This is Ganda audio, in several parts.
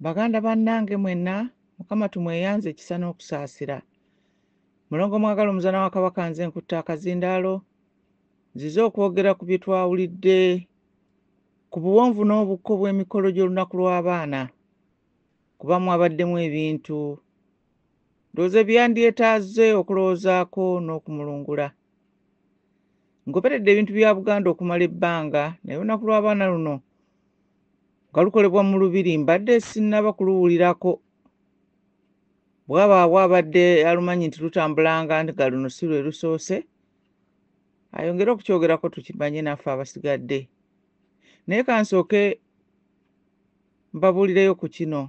Baganda bannange mwenna mukama tumweyanze ekisa n'okusaasira. Mulongo mwagala omuzana wa kabaka nze nkutte akazindaalo nzize okwogera ku bye twawulidde ku buwonvu n'obukko bw'emikolo gy'olunaku lw'abaana kuba mwabaddemu ebintu ndowooza ebyandyetaaze okulowoozaako n'okumulungula. Ngoberedde ebintu bya Buganda okumala ebbanga naye olunaku lw'abaana luno nga lukolebwa mu lubiri mbadde sinnaba kuluwulirako bwabaawo abadde alumanyi nti lutambulanga nga luno si lwe lusoose ayongere okukyogerako tukimanye naffe abasigadde naye kansooke mbabuulireyo ku kino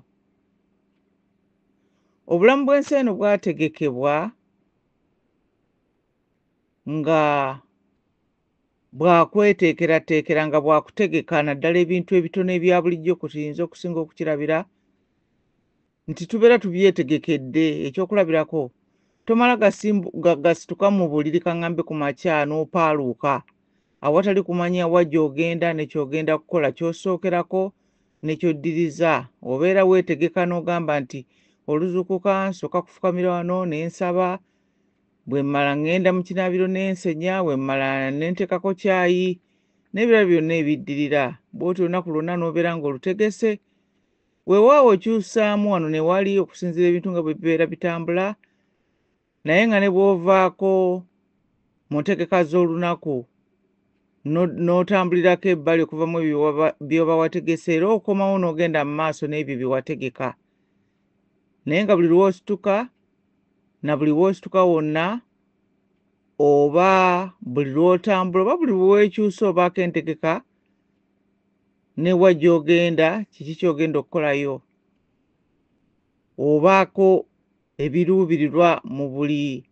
obulamu bw'ensi eno bwategekebwa nga bwakweteekerateekera nga bwakutegeka naddala ebintu ebitono ebya bulijjo kwe tuyinza okusinga okukirabira nti tubeera tubyetegekedde ekyokulabirako tomala gasituka mu buliri kaŋambe ku makya n'opaaluuka awatali kumanya wa gy'ogenda nekyogenda kukola kyosookerako nekyoddiriza obeera weetegeka n'ogamba nti oluzukuka nsooka kufukamira wano ne nsaba bwe mmala ŋŋenda mu kinaabiro n'ensenya bwe mmala ne nteekako kyayi n'ebirala byonna ebiddirira bw'oti olunaku lwonna n'obeera ng'olutegese weewaawo okyusaamu wano ne wali okusinziira ebintu nga bwe bibeera bitambula naye nga ne bw'ovaako mu ntegeka z'olunaku n'otambulirako ebbali okuvamu byoba wategese era okomawo n'ogenda mu maaso n'ebyo bye wategeka naye nga buli lwosituka na buli wosituka wonna oba buli lwotambula oba buli wewekyusa obaako entegeka newa gyogenda kiki kyogenda okukolayo obaako ebiruubirirwa mu buli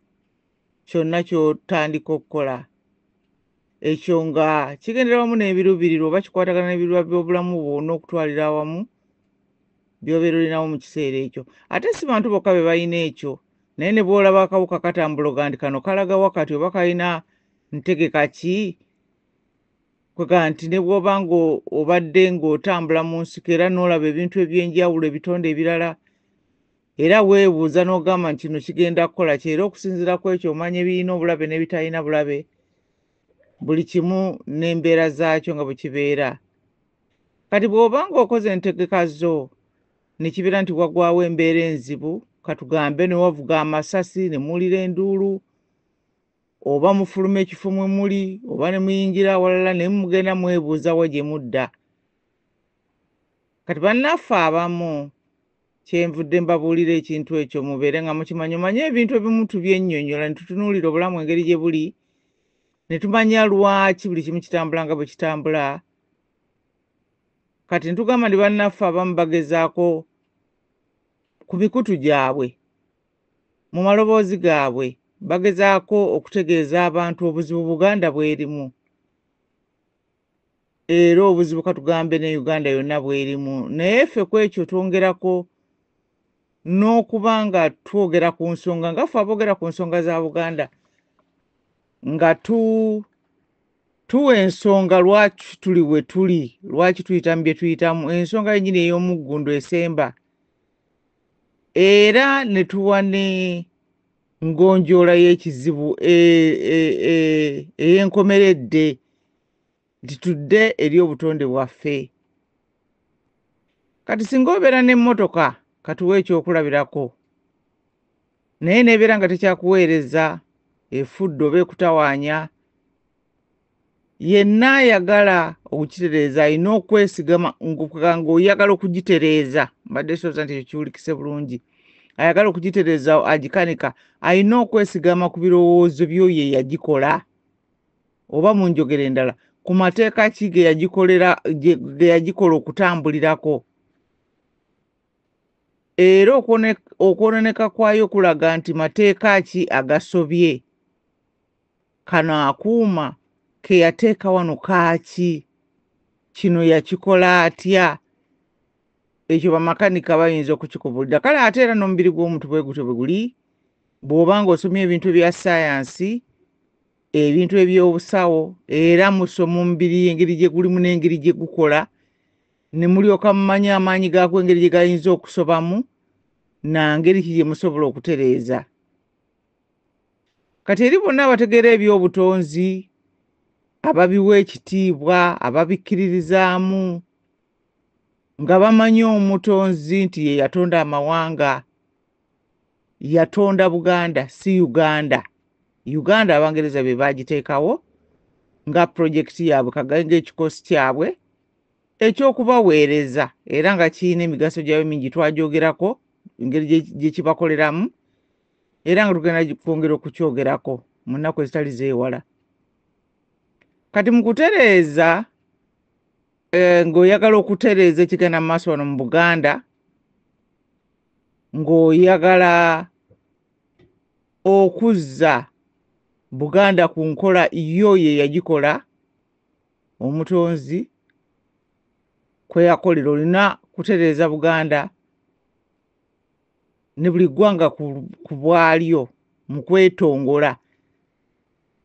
kyonna ky'otandika okukola ekyo nga kigendera wamu n'ebiruubirirwa oba kikwatagana n'ebiruubirirwa by'obulamu bwo n'okutwalira awamu by'obeera olinawo mu kiseera ekyo ate si bantu bokka be balina ekyo naye ne bw'olaba akawuka katambuloga nti kano kalaga wakati oba kalina ntegeka ki kwega nti ne bw'oba ng'obadde ng'otambula mu nsiko era n'olaba ebintu eby'enjawulo ebitonde ebirala era weebuuza n'ogamba nti kino kigenda kukola ki era okusinziira ku ekyo omanya ebirina obulabe n'ebitalina bulabe buli kimu n'embeera zaakyo nga bwe kibeera kati bw'oba ng'okoze entegeka zo ne kibeera nti wagwawo embeera enzibu katugambe ne wavuga amasasi ne muwulira enduulu oba mufuluma ekifo mwe muli oba ne muyingira awalala naye mugenda mwebuuzawo gye mudda kati bannaffe abamu kyenvudde mbabuulira ekintu ekyo mubeere nga mukimanyi omanye ebintu ebimu tubyennyonnyola ne tutunuulira obulamu engeri gye buli ne tumanya lwaki buli kimu kitambula nga bwe kitambula kati ntugamba ndi bannaffe abamu bagezaako ku mikutu gyabwe mu maloboozi gaabwe bagezaako okutegeeza abantu obuzibu buganda bwerimu era obuzibu katugambe ne uganda yonna bwerimu naye ffe ku ekyo twongerako n'okuba nga twogera ku nsonga nga ffe aboogera ku nsonga za buganda nga tu tuwa ensonga lwaki tuli we tuli lwaki tuyitamu bye tuyitamu ensonga yenyini ey'omuggundu esemba era ne tuwa ne ngonjoola y'ekizibu e, e, e, ey'enkomeredde nti tudde eri obutonde bwaffe kati singa obeera n'emmotoka katuwa ekyokulabirako naye nebeera nga tekyakuweereza efudde oba ekutawaanya yenna ayagala okukitereeza alina okwesigama ng'oyagala okugitereeza mbadde sooza nti ekyo kiwulikise bulungi ayagala okugitereeza agikanika alina okwesigama ku birowoozo byo ye yagikola oba mu njogera endala ku mateeka ki ge yagikola okutambulirako era okwononeka kwayo kulaga nti mateeka ki agasobye kano akuuma ke yateeka wano kaaki kino yakikola atya ekyo bamakanika bayinza okukikubulira kale ate era n'omubiri gw'omuntu bwe gutyo bwe guli bw'oba ng'osomye ebintu ebya sayansi ebintu ebyobusawo era musoma omubiri engeri gye gulimu n'engeri gye gukola ne mulyoka mumanya amaanyi gaako engeri gye gayinza okusobamu na ngeri ki gye musobola okutereeza kati eri bonna abategeera eby'obutonzi ababiwa ekitiibwa ababikkiririzaamu nga bamanyi omutonzi nti ye yatonda amawanga yatonda buganda si uganda uganda abangereza be baagiteekawo nga pulojekiti yaabwe kagainga ekikosi kyabwe ekyokubaweereza era nga kirina emigaso gyayo mingi twagyogerako engeri gye kibakoleramu era nga tugenda kwongera okukyogerako mu nnaku ezitali zeewala kati mu kutereeza eh, ng'oyagala okutereeza ekigenda mu maaso wano mu buganda ng'oyagala okuzza buganda ku nkola yo ye yagikola omutonzi kwe yakolera olina kutereeza buganda ne buli ggwanga ku bwalyo mu kwetongola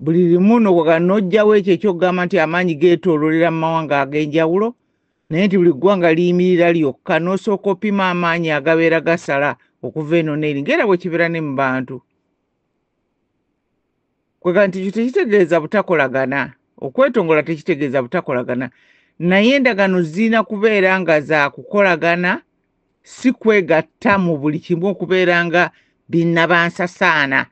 buli limu noga n'ojjawo ekyo ekyokugamba nti amaanyi geetoololera mu mawanga ag'enjawulo naye nti buli ggwanga liyimirira lyokka n'osooka opima amaanyi agabeera gasala okuva eno neeri ngaera bwe kibeera ne mu bantu kwega nti ekyo tekitegeeza butakolagana okwetongola tekitegeeza butakolagana naye endagaano zirina kubeera nga za kukolagana si kwegatta mu buli kimu okubeera nga binnabansasaana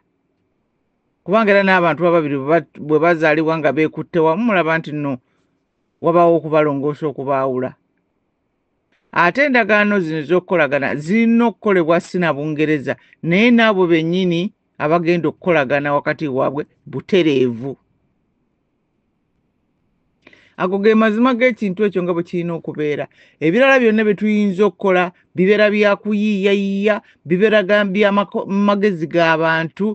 kubanga era n'abantu ababiri bwe bazaalibwa nga beekutte wamu mulaba nti nno wabaawo okubalongoosa okubaawula ate endagaano zino ez'okukolagana zirina okukolebwa si na bungereza naye n'abo bennyini abagenda okukolagana wakati waabwe butereevu ago ge mazima g'ekintu ekyo nga bwe kirina okubeera ebirala byonna bye tuyinza okukola bibeera byakuyiiyayiiya bibeera byamagezi g'abantu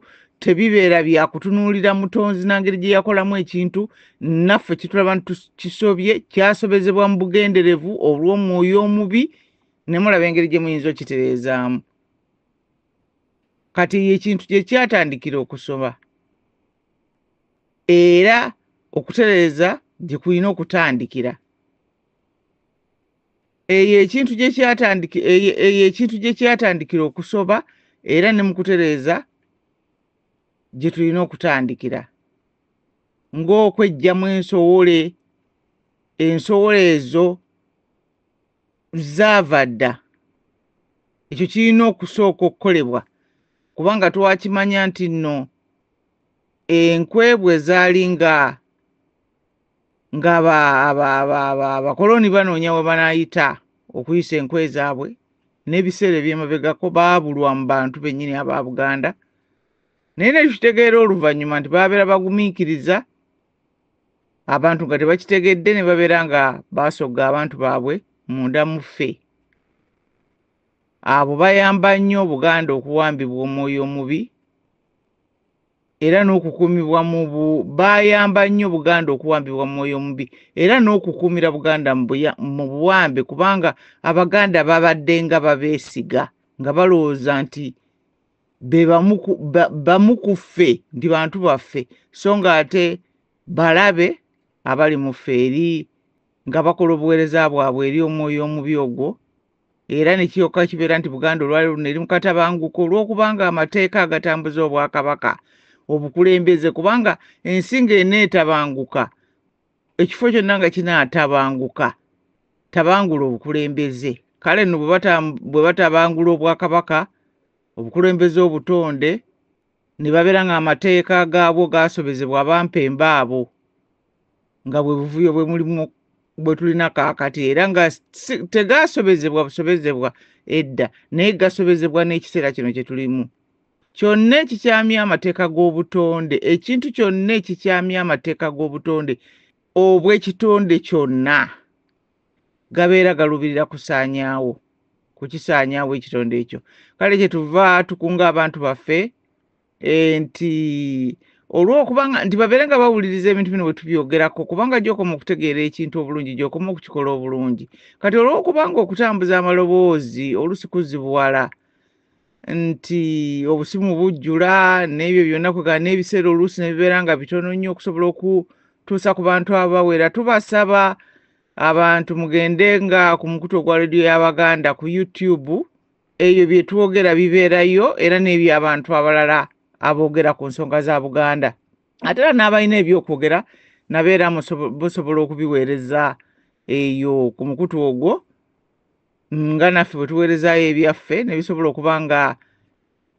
tebibeera byakutunuulira mutonzi nangeri gye yakolamu ekintu naffe kitulaba nti kisobye kyasobezebwa mu bugenderevu olw'omwoyo omubi ne mulaba engeri gye muyinza okitereezaamu kati eyo ekintu gye kyatandikira okusoma era okutereeza gye kulina okutandikira eyo ekintu gye kyatandiki eyo ekintu gye kyatandikira okusoba era ne mu kutereeza gye tulina okutandikira ng'okweggyamu ensowole ensowole ezo zaava dda ekyo kirina okusooka okukolebwa kubanga twakimanya nti nno enkwebwe zaali nga nga abakoloni banoonya we banaayita okuyisa enkwe zaabwe n'ebiseera ebyemabegako baabulwa mu bantu bennyini aba buganda naye nekitegeera oluvannyuma nti babeera bagumiikiriza abantu nga tebakitegedde ne babeera nga baasogga abantu baabwe munda mu ffe abo bayamba nnyo obuganda okuwambibwa omwoyo omubi era n'okukuumibwa mu bayamba nnyo buganda okuwambibwa mu mwoyo omubi era n'okukuumira buganda mu buwambe kubanga abaganda babaddenga babeesiga nga balowooza nti be bamu ku- ba- bamu ku ffe nti bantu baffe so ng'ate balabe abali mu ffe eri nga bakola obuweereza bwabwe eri omwoyo omubi ogwo era ne kiryoka kibeera nti buganda olwali luno eri mu katabanguko olw'okubanga amateeka agatambuza obwakabaka obukulembeze kubanga ensi ng'eneetabanguka ekifo kyonna nga kinaatabanguka tabangula obukulembeze kale no bwe batabangula obwakabaka obukulembeze obutonde ne babeera ng'amateeka gaabwo gaasobezebwa abampemba abo nga bwe buvuyo bwe mulimu bwe tulina kaakati era nga tegaasobezebwa busobezebwa edda naye gasobezebwa n'ekiseera kino kye tulimu kyonna ekikyamya amateeka g'obutonde ekintu kyonna ekikyamya amateeka g'obutonde obw'ekitonde kyonna gabeera galuubirira kusaanyaawo kukisaanyaawo ekitonde ekyo kale kye tuva tukunga abantu baffe eh, nti olwokubanga nti babeere nga bawuliriza ebintu bino bwe tubyogerako kubanga gyokoma okutegeera ekintu obulungi gyokoma okukikola obulungi kati olwokubanga okutambuza amaloboozi olusi kuzibuwala nti obusimu bujjula n'ebyo byonna kwegala n'ebiseera oluusi ne bibeera nga bitono nnyo okusobola okutuusa ku bantu abawera tubasaba abantu mugende nga ku mukutu ogwa rediyo y'abaganda ku youtube ebyo bye twogera bibeerayo era n'ebyo abantu abalala aboogera ku nsonga za buganda ate era n'abalina ebyokwogera nabo era busobola okubiweereza eyo ku mukutu ogwo nga naffe bwe tuweerezaayo ebyaffe ne bisobola okuba nga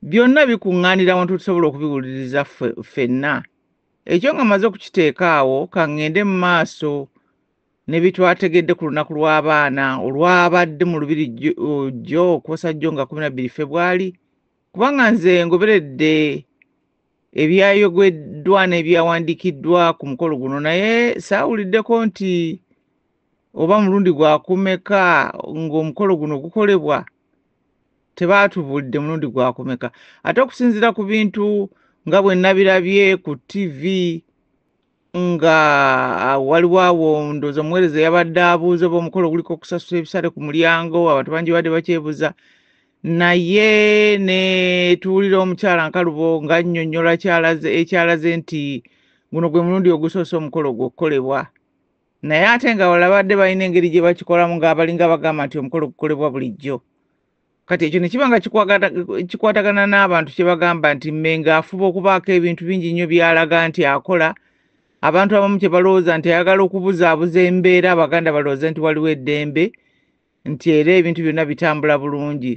byonna bikuŋŋaanira wantu tusobola okubiwuliriza ffenna ekyo nga maze okukiteeka awo kaŋŋende mu maaso ne bitwategedde ku lunaku lw'abaana olwabadde mu lubiri jjo okwosa jjo nga kumi na bbiri febwali kubanga nze ngoberedde ebyayogeddwa n'ebyawandiikiddwa ku mukolo guno naye saawuliddeko nti oba mulundi gwakumeka ng'omukolo guno gukolebwa tebaatubulidde mulundi gwakumeka ate okusinziira ku bintu nga bwe nabirabye ku tivi nga ah, waliwo awo ndooza omuweereza yabadde abuuza oba omukolo guliko okusasula ebisale ku mulyango abantu bangi badde bakyebuza naye ne tuwulira omukyala nkalubo nga nnyonnyola ekyalaze nti guno gwe mulundi ogusoose omukolo gwokukolebwa naye ate nga wala badde balina engeri gye bakikolamu ng'abalinga bagamba nti omukolo gukolebwa bulijjo kati ekyo ne kiba nga kikwatagana n'abantu kye bagamba nti mmenga afuba okubaako ebintu bingi nnyo by'alaga nti akola abantu abamu kye balowooza nti ayagala okubuzaabuza embeera abaganda balowooze nti waliwo eddembe nti era ebintu byonna bitambula bulungi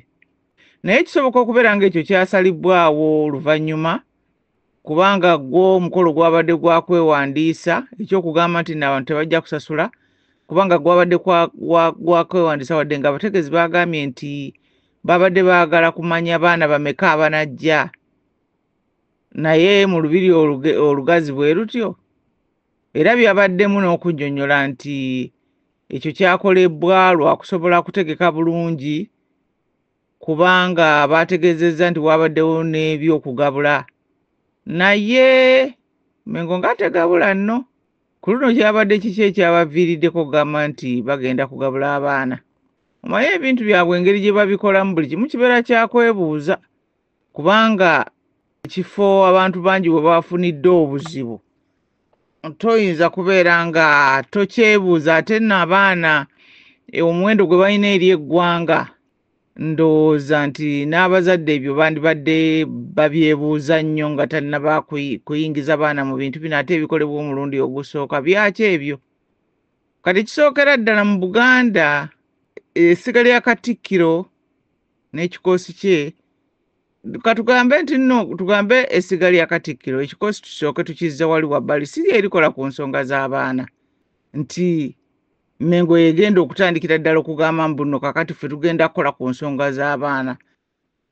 naye kisoboka okubeera ng'ekyo kyasalibbwawo oluvannyuma kubanga gwo omukolo gwabadde gwa kwewandiisa ekyokugamba nti naabantu tebajja kusasula kubanga gwabadde gwa kwewandiisa wadde nga abategeezi baagambye nti babadde baagala kumanya baana bameka abanajja naye mu lubiri olugazi bwe lutyo era byabaddemu n'okunyonyola nti Ekyo kyakolebbwa lwa kusobola kutegeka bulungi kubanga baategeezezza nti waabaddewo n'ebyokugabula naye mengo ng'ategabula nno ku luno kyabadde kiki ekyabaviiriddeko okugamba nti bagenda kugabula abaana omaye ebintu byabwe engeri gye babikolamu buli kimu kibeera kyakwebuuza kubanga ekifo abantu bangi bwe bafunidde obuzibu toyinza kubeera nga tokyebuuza ate no abaana e, omuwendo gwe balina eri eggwanga ndowooza nti n'abazadde ebyo bandibadde babyebuuza nnyo nga tannaba kuyingiza baana mu bintu bino ate ebikolebwa omulundi ogusooka byaki ebyo kati kisookera ddala mu buganda essiga lya katikkiro n'ekikoosi kye katugambe nti nno tugambe essiga lya katikkiro ekikoosi tusooke tukizza wali wabbali si lyerikola ku nsonga z'abaana nti mengo yegenda okutandikira ddala okugamba mbuno kakati ffe tugenda kukola ku nsonga z'abaana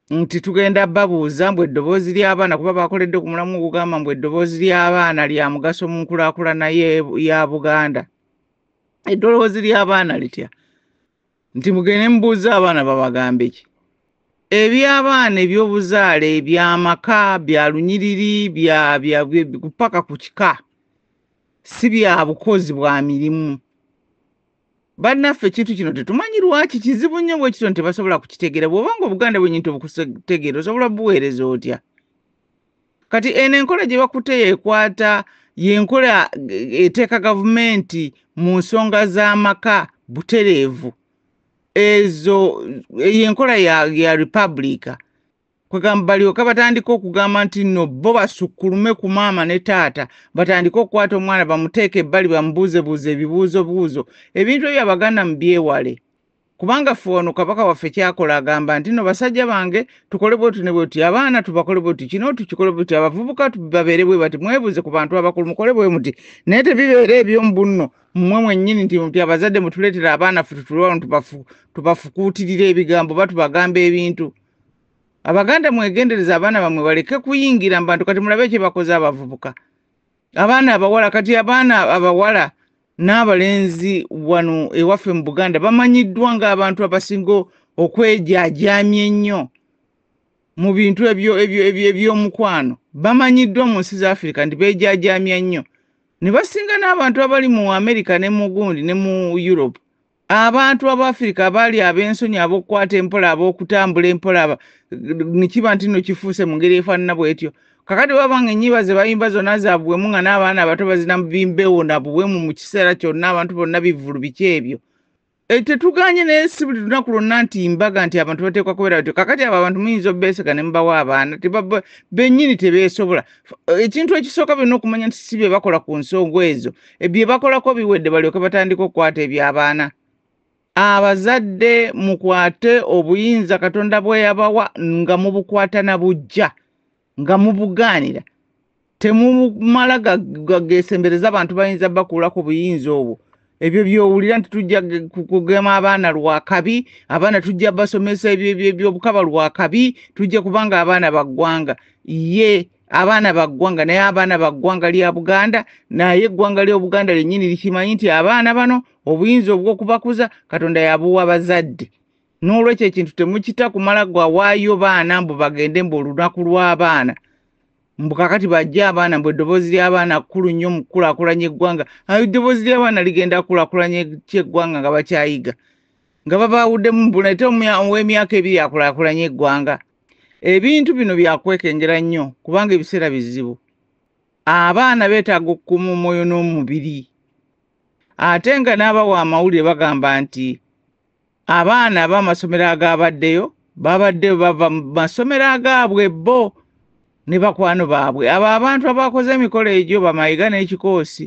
nti tugenda babuuza mbu eddoboozi ly'abaana kuba bakoledde ku mulamu okugamba mbu eddoboozi ly'abaana lya mugaso mu nkulakulana ya buganda eddoboozi ly'abaana litya nti mugende mubuuze abaana babagambe ki ebyabaana ebyobuzaale byamaka bya lunyiriri paka ku kika si bya bukozi bwa mirimu bannaffe ekintu kino tetumanyi lwaki kizibu nnyo bwekityo nti tebasobola kukitegeera bw'oba nga obuganda bwenyi nti obukutegeera osobola buweereza otya kati eno enkola gye bakutte yekwata yenkola eh, eteeka gavumenti mu nsonga z'amaka butereevu ezo eh, yenkola ya, ya republika kwegamba balyoka batandika okugamba nti no bo basukkulume ku maama ne taata batandike okukwata omwana bamuteeke ebbali bamubuuzebuuze ebibuuzobuuzo ebintu ebyo abaganda mu byewale kubanga ffe wano kabaka waffe kyakola agamba nti no basajja bange tukole bwoti ne bwoti abaana tubakole bwoti kino tukikole bwoti abavubuka babeere bwe bati mwebuze ku bantu abakulu mukole bwe muti naye tebibeera ebyomu bunno mmwe mwennyini nti muti abazadde mutuleetera abaana ffe tutule wano tubafukuutirira ebigambo ba tubagamba ebintu abaganda mwegendereza abaana bamwe baleke kuyingira mu bantu kati mulabe ekyebakoze abavubuka abaana abawala kati abaana abawala n'abalenzi wano ewaffe mu buganda bamanyiddwa ng'abantu abasinga okwejaajaamya ennyo mu bintu ebyomukwano bamanyiddwa mu nsi z'afirika nti beejaajaamya nnyo ne basinga n'abantu abali mu amerika ne mu gundi ne mu europe abantu abafirika abaali ab'ensonyi ab'okukwata empola ab'okutambula empola nikiba nti no kifuuse mu ngeri efaanana bwetyo kakati baba nga enyiba ze bayimba zonna zabuwemu nga n'abaana abato bazina bimbewo na buwemu mu kiseera kyonna abantu bonna bivulu biki ebyo eh, tetuganye naye si buli lunaku lwonna nti mbaga nti abantu bateekwa kubeera batyo kakati abo abantu muyinza obeesega ne mubawa abaana bennyini tebeesobola ekintu ekisooka byonna okumanya nti si bye bakola ku nsonga ezo e, bye bakolako biwedde balyoke batandika okukwata ebyabaana abazadde mukwate obuyinza katonda bweyabawa nga mubukwata na bujja nga mubugaanira temumala gagesembereza abantu bayinza bakuulako buyinza obwo ebyo byowulira nti tujja kugema abaana lwakabi abaana tujja basomesa ebyobukaba lwakabi tujja kubanga abaana baggwanga ye abaana ba ggwanga naye abaana ba ggwanga lya buganda naye eggwanga ly'obuganda lyennyini likimanyi nti abaana bano obuyinza obw'okubakuza katonda yabuwa bazadde n'olwekyo ekintu temukita kumala gwawaayo baana mbu bagende mbu olunaku lw'abaana mbu kakati bajja abaana mbu eddoboozi ly'abaana kkulu nnyo mu kukulakulanya eggwanga ayo eddoboozi ly'abaana ligenda kukulakulanya kyeggwanga nga bakyayiga nga babaawuddemu mbunate ow'emyaka ebiri akulakulanya eggwanga ebintu bino byakwekengera nnyo kubanga ebiseera bizibu abaana beetaaga okukuma omwoyo n'omubiri ate nga n'abawa amawulire bagamba nti abaana ab'amasomero agaabaddeyo babadde bava mu masomero agaabwe bo ne bakwano baabwe abo abantu abakoze emikolo egyo bamayiga n'ekikoosi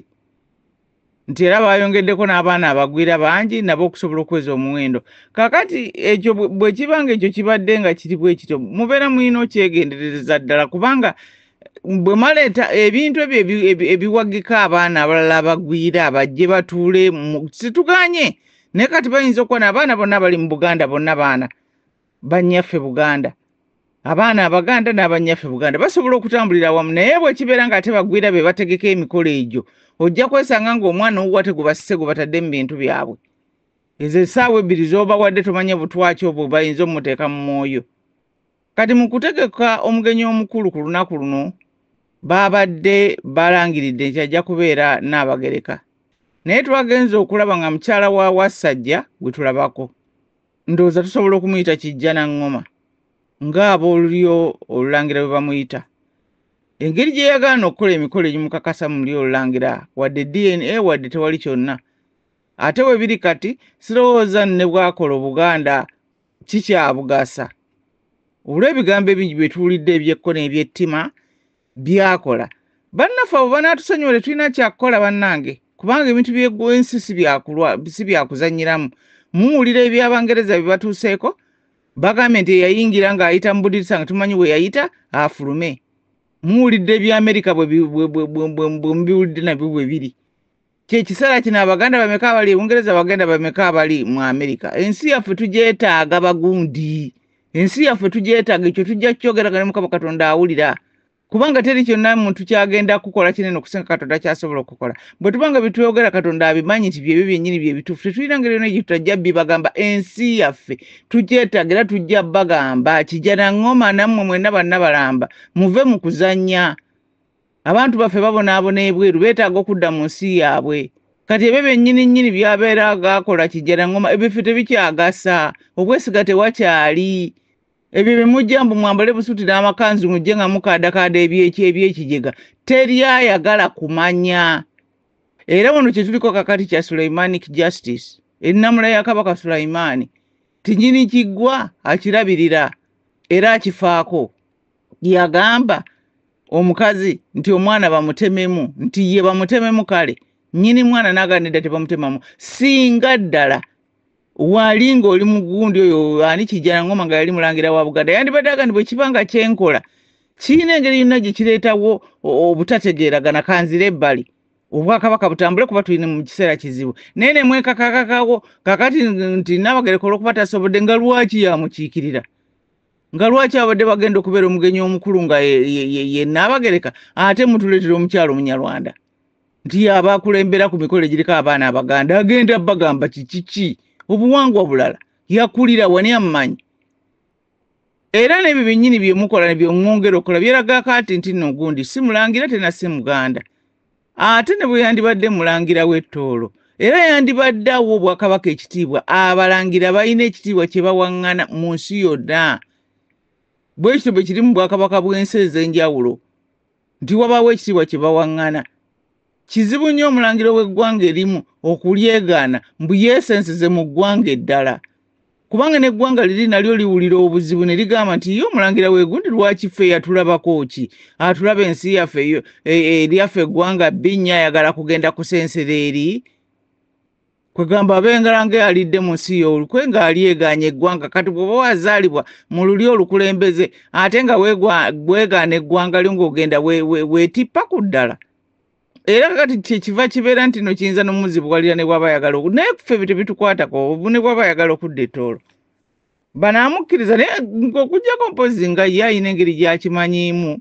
nti era baayongeddeko n'abaana abagwira bangi nabo okusobola okuweza omuwendo kakati ekyo bwe kiba nga ekyo kibadde nga kiri bwe kityo mubeera mulina okyegenderereza ddala kubanga bwe maleeta ebintu ebyo ebiwagika abaana abalala abagwira bajje batuule situganye naye kati bayinza okuba naabaana bonna bali mu buganda bonna baana bannyaffe buganda abaana abaganda n'abannyaffe buganda basobola okutambulira awamu naye bwekibeera nga ate bagwira be bategeka emikolo egyo ojja kwesanga ngaomwana owuwate gubasise gubatadde mu bintu byabwe ezo esaawa ebbiri zobawadde tomanya butwaki obwo bayinza omuteeka mu mwoyo kati mu kutegeka omugenyi omukulu ku lunaku luno baabadde balangiridde nti ajja kubeera naabagereka naye twagenze okulaba nga mukyala wa wassajja gwe tulabako ndowooza tusobola okumuyita kijja na ŋŋoma ng'aboolulyo olulangira bwe bamuyita engeri gye yagaana okukola emikolo egimukakasa mu lyo olulangira wadde dna wadde tewali kyonna ate bwe biri kati sirowooza ne bwakola obuganda kikyabugasa olw'ebigambo ebingi bye tuwulidde ebyekko n'ebyettima byakola bannaffe abo banaatusonyiwa tetulina kyakukola bannange kubanga ebintu byensi si byakuzanyiramu muwulira ebyabangereza bye batuuseeko bagambye nti eyayingira ng'ayita mu budirisa nga tumanyi bwe yayita afulume muwulidde ebyamerika bwe mubiwulidde nabyo bwe biri kyekiseera kino abaganda bameka abali ebungereza abaganda bameka abali mu amerika ensi yaffe tugyetaaga bagundi ensi yaffe tugyetaaga ekyo tujja kukyogeragana mukama katonda awulira kubanga teri kyonna muntu kyagenda kukola kinene okusinga katonda kyasobola okukola bwe tubanga byetwogera katonda abimanyi nti byebyo byennyini byebituufu tetulina ngeri yona gyetutajja bibagamba ensi yaffe tugyetaaga era tujja bagamba kijana ngoma nammwe mwena banna balamba muve mu kuzanya abantu baffe babonaabona ebweru beetaaga okudda mu nsi yaabwe kati ebyo byennyini nnyini byabeera gaakola kijjala ngoma ebyo ffe tebikyagasa okwesiga tewakyali ebyo bye mujja mbu mwambale busuti n'amakanzu mujje nga mukaadakaada ebyekyebyekijega teri ayagala kumanya era wano kye tuliko kakati kya sulaimanic justice ennamula ya kabaka sulaimaani tinyini kiggwa akirabirira era akifaako yagamba omukazi nti omwana bamutememu nti ye bamutememu kale nyini mwana naganidda tebamutemamu singa ddala wali ng'oli mugundi oyo ani kijana ngoma nga yali mulangira wa buganda yandibadde agandi bwekiba nga kyenkola kirina engeri yonna gye kireetawo obutategeeragana kanzira ebbali obwakabaka butambule kuba tulina mu kiseera kizibu naye ne mwekakakakawo kakati nti nabagereka olwokuba tasobodde nga lwaki yamukiikirira nga lwaki abadde bagenda okubeera omugenyi omukulu nga yenaabagereka ate mutuleetera omukyalo omunyarwanda nti yaba akulembera ku mikolo egiriko abaana abaganda agenda bagamba kikiki obuwangwa bulala yakulira wani amumanyi era n'ebyo byennyini byemukola nebyongongera okola byeragaako ati nti nogundi si mulangira tena si muganda ate ne bwe yandibadde mulangira w'ettoolo era yandibadde awa obwakabaka ekitiibwa abalangira balina ekitiibwa kye bawaŋŋana mu nsi yonna bwe kityo bwe kiri mu bwakabaka bw'ensi ez'enjawulo nti wabaawo ekitiibwa kye bawaŋŋana kizibu nnyo omulangira w'eggwanga erimu okulyegaana mbu yeesensize mu ggwanga eddala kubanga n'eggwanga liri nalyo liwulira obuzibu ne ligamba nti ye omulangira w'egundi lwaki ffe yatulabako ki atulaba ensi yaffe e, eryaffe eggwanga bbi nnyo ayagala kugenda kusensera eri kwegamba abengalanga alidde mu nsi yoolukwe ng'ali egaanya eggwanga kati bw'oba wazaalibwa mu luli olukulembeze ate nga bwegaana eggwanga lyo ng'ogenda weetippa ku ddala we, we, we, era kati kyekiva kibeera nti no kiyinza nomuzibuwalira ne bwaba ayagala naye ffe bye bitukwatako ne bwaba ayagala okudda etoolo banaamukkiriza naye okujjako mpozi nga ye ayina engeri gyakimanyiimu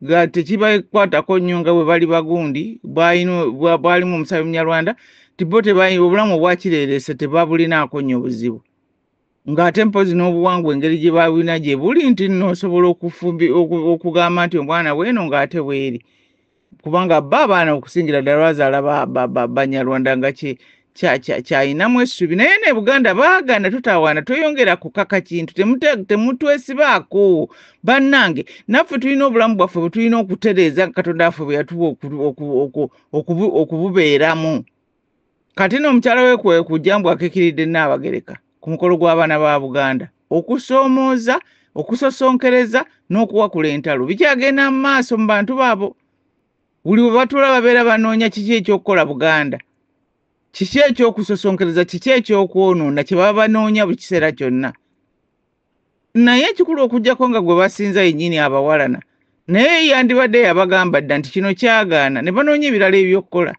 nga tekibakwatako nnyo nga bwe bali bagundi bwalimu omusabi munyarwanda tibo obulamu obwakireerese tebabulinaako nnyo buzibu ng'ate mpozi n'obuwangwa engeri gye babulina gye buli nti nno osobola okugamba nti omwana weeno ng'ate weeri kubanga ba abaana okusingira ddala bazaala banyarwanda nga kyayinamu essuubi naye ne buganda baagana tutawaana tweyongera kukaka kintu temutwesibaako bannange naffe tulina obulamu bwaffe bwe tulina okutereeza katonda waffe bwe yatuwa okububeeramu kati no omukyala we kwe kujja mbu akikiridde nnaabagereka ku mukolo gw'abaana ba buganda okusoomooza okusosonkereza n'okuwakula entalo bikyagenda mu maaso mu bantu baabo buli we batuula babeera banoonya kiki ekyokukola buganda kiki ekyokusosonkereza kiki ekyokwonoona kye baba banoonya buli kiseera kyonna naye ekikulu okujjako nga gwe basinza yennyini abawalana naye yandibadde yabagamba dda nti kino kyagaana ne banoonya ebirala ebyokukola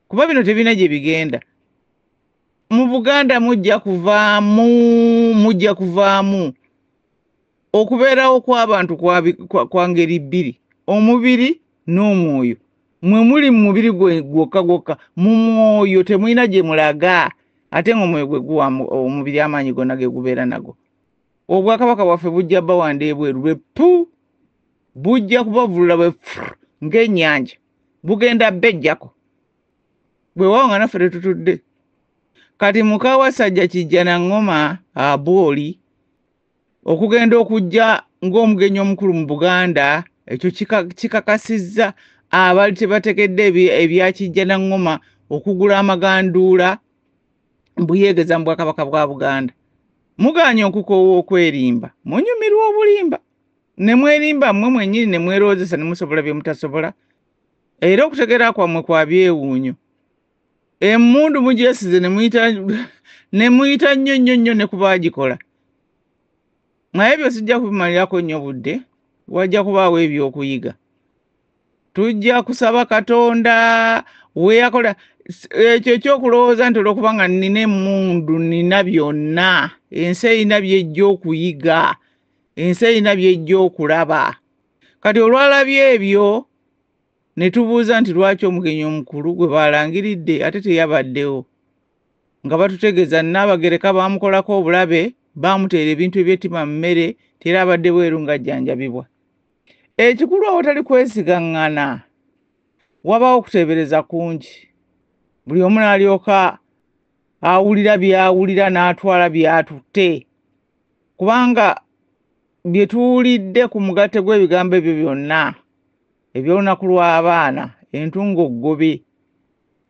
kuba bino tebirina gye bigenda mu buganda mujja kuvaamu mujja kuvaamu okubeerawo kw'abantu kwa ngeri bbiri omubiri n'omwoyo mwe muli mu mubiri gwe gwokka gwokka mu mwoyo temulina gye mulaga ate nga omwoyo gwe guwa omubiri amaanyi gonna ge gubeera nago obwakabaka bwaffe bujja bawanda ebweru lwe pu bujja kubavulula bwe ng'ennyanja bugenda bejjako bwe waawo nga naffe tetutudde kati mukawasajja kijja na ŋŋoma abooli okugenda okujja ng'omugenyi omukulu mu buganda ekyo kikakasizza abaali tebategedde ebyakijja na ŋŋoma okugula amaganduula mbuyeegeza mu bwakabaka bwa buganda mugaanye okukoowa okwerimba munyumirwa obulimba ne mwerimba mmwe mwennyini ne mweroozesa ne musobola bye mutasobola era okutegeera kwammwe kwa byewuunyo emundu mugyesize nemuyita nemuyita nnyo nnyo nnyo ne kuba agikola naye ebyo sijja kubimalirako nnyo budde wajja kubaawo ebyokuyiga tujja kusaba katonda weyakola ekyo ekyokulowooza nti olwokuba nga nina emundu nina byonna ensi erina byejja okuyiga ensi erina byejja okulaba kati olwalabye ebyo ne tubuuza nti lwaki omugenyi omukulu gwe baalangiridde ate teyabaddewo nga batutegeeza nnaabagereka baamukolako obulabe baamuteera ebintu ebyettima mu mmere tera abadde bweru ng'ajjanjabibwa ekikulu awatali kwesigaŋŋana wabaawo okuteebereza kungi buli omu n'alyoka awulira by'awulira n'atwala by'atutte kubanga bye tuwulidde ku mugatte gw'ebigambo ebyo byonna eby'olunaku lw'abaana entungo ggobe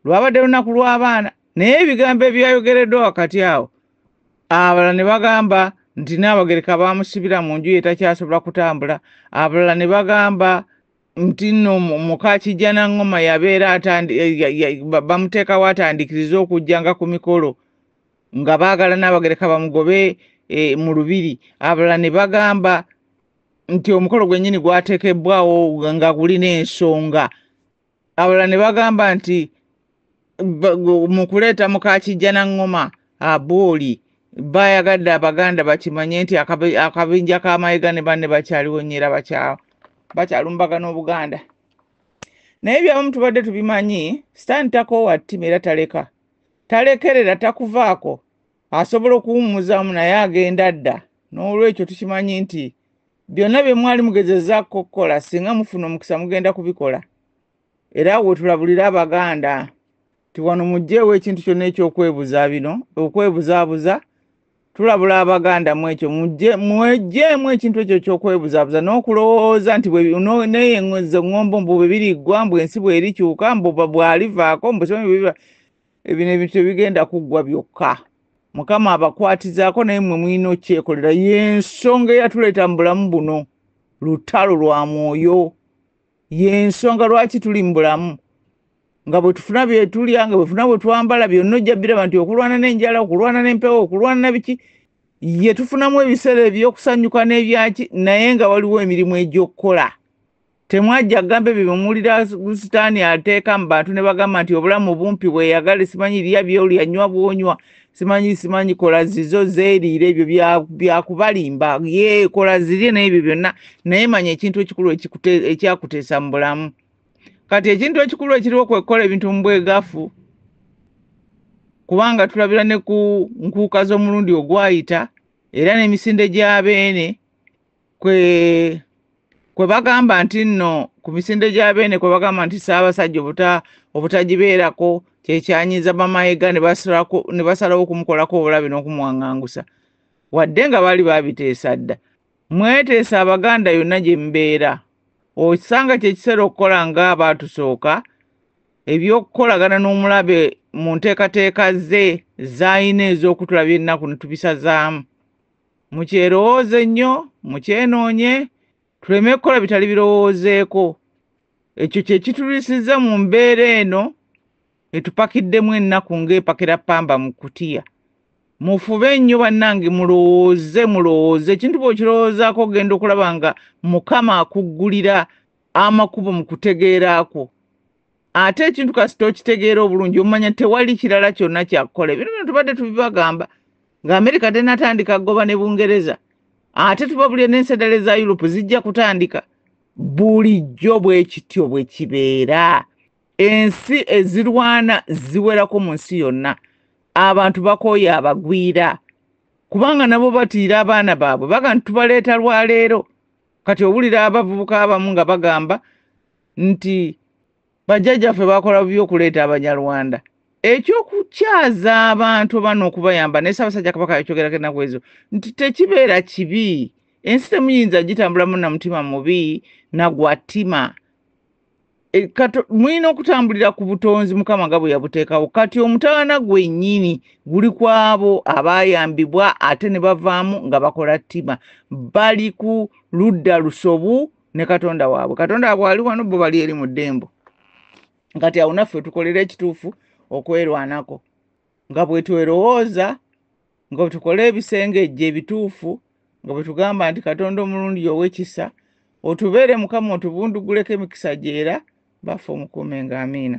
lwabadde lunaku lw'abaana naye ebigambo ebyayogereddwa wakati awo abalala ne bagamba nti naabagereka baamusibira mu nju ye takyasobola kutambula abalala ne bagamba nti nno muka kijjana ngoma yabeera bamuteekawo atandikiriza okujja nga ku mikolo nga baagala naabagereka bamugobe eh, mu lubiri abalala ne bagamba nti omukolo gwennyini gwatekebbwawo nga gulina ensonga abalala ne bagamba nti mu kuleeta mukakijja na ŋŋoma abooli baayagadde abaganda bakimanye nti akabinja ka mayega ne banne bakyaliwo nnyo era bakyalumbaga n'obuganda naye byabamu tubadde tubimanyi sitaani takoowa ttima era taleka talekerera takuvaako asobola okuwummuzaamu naye agenda dda n'olwekyo tukimanyi nti byonna bye mwali mugezezaako okukola singa mufuna omukisa mugenda kubikola era wetulabulira abaganda nti wano mugjeewo ekintu kyonna ekyokwebuza bino okwebuzaabuza tulabula abaganda mu ekyo mwejjeemu ekintu ekyo kyokwebuzaabuza n'okulowooza nti naye ezo ŋŋombo mbu bwe biriggwa mbu ensi bwerikyuka mbu bwalivaako mbu ebino ebintu tebigenda kuggwa byokka mukama abakwatizaako naye mwe mulina okyekolera yensonga eyatuleeta mu bulamu buno lutalo lwa mwoyo yensonga lwaki tuli mu bulamu nga bwetufuna byetulya nga bwefuna bwetwambala byonna ojja biraba nti okulwana n'enjala okulwana n'empewo okulwana nabiki ye tufunamu ebiseera ebyokusanyuka n'ebyaki naye nga waliwo emirimu egy'okukola temwajja gamba ebyo byemuwulira sitaani ateeka mu bantu ne bagamba nti obulamu bumpi bweyagale simanyi lya byolya nywa bwonywa simanyi simanyi kola zizo zeeriire ebyo byakubalimba ye kola zirye n'ebyo byonna naye manya ekintu ekikulu ekyakuteesa mu bulamu kati ekintu ekikulu ekiriwo kwekukola ebintu mu bwegafu kubanga tulabira ne ku nkuuka z'omulundi ogwayita era n'emisinde gya beene kwe kwe bagamba nti nno ku misinde gya beene kwe bagamba nti ssaabasajja obuta obutagibeerako kyekyanyiza bamayiga ne basalawo okumukolako obulabe n'okumwangangusa wadde nga baali babiteesa dda mweteesa abaganda yonna gye mbeera okisanga kyekiseera okukola nga abaatusooka ebyokukolagana n'omulabe mu nteekateeka ze zaalina ez'okutulabya ennaku ne tubisazaamu mukyerowooze nnyo mukyenoonye tuleme kukola bitali birowoozeeko ekyo kye kitulisiza mu mbeera eno etupakiddemu ennaku ng'epakira pamba mu kutiya mufube nnyo bannange mulowooze mulowooze ekintu bw'okirowoozaako ogenda okulaba nga mukama akuggulira amakubo mu kutegeera kwo ate ekintu kasita okitegeera obulungi omanya tewali kirala kyonna kyakukola ebino bino tubadde tubibagamba nga amerika tenatandika goba ne bungereza ate tubabulire n'ensedale za yurope zijja kutandika bulijjo bwe kityo bwe kibeera ensi ezirwana ziwerako mu nsi yonna abantu bakooye abagwira kubanga nabo batiira abaana baabwe baga ntitubaleeta lwaleero kati owulira abavubuka abamu nga bagamba nti bajjajjaffe bakola bubi okuleeta abanyarwanda ekyokukyaza abantu oba nokubayamba naye sabasajja kabaka yakyogerako enaku ezo nti tekibeera kibi ensi temuyinza gitambulamu na mutima mubi nagwatima e, mulina okutambulira ku butonzi mukama nga bwe yabuteekawo kati omutawana gwennyini guli kwabo abayambibwa ate ne bavaamu nga bakola ttima bali ku ludda lusobu ne katonda waabwe katonda waabwe ali wano bo bali eri mu ddembo kati awo naffe tukolera ekituufu okwerwanako nga bwe twerowooza nga bwe tukola ebisengejje ebituufu nga bwe tugamba nti katonda omulundi owekisa otubeere mukama otubunduguleko emikisa gyera baffe omukuume nga amiina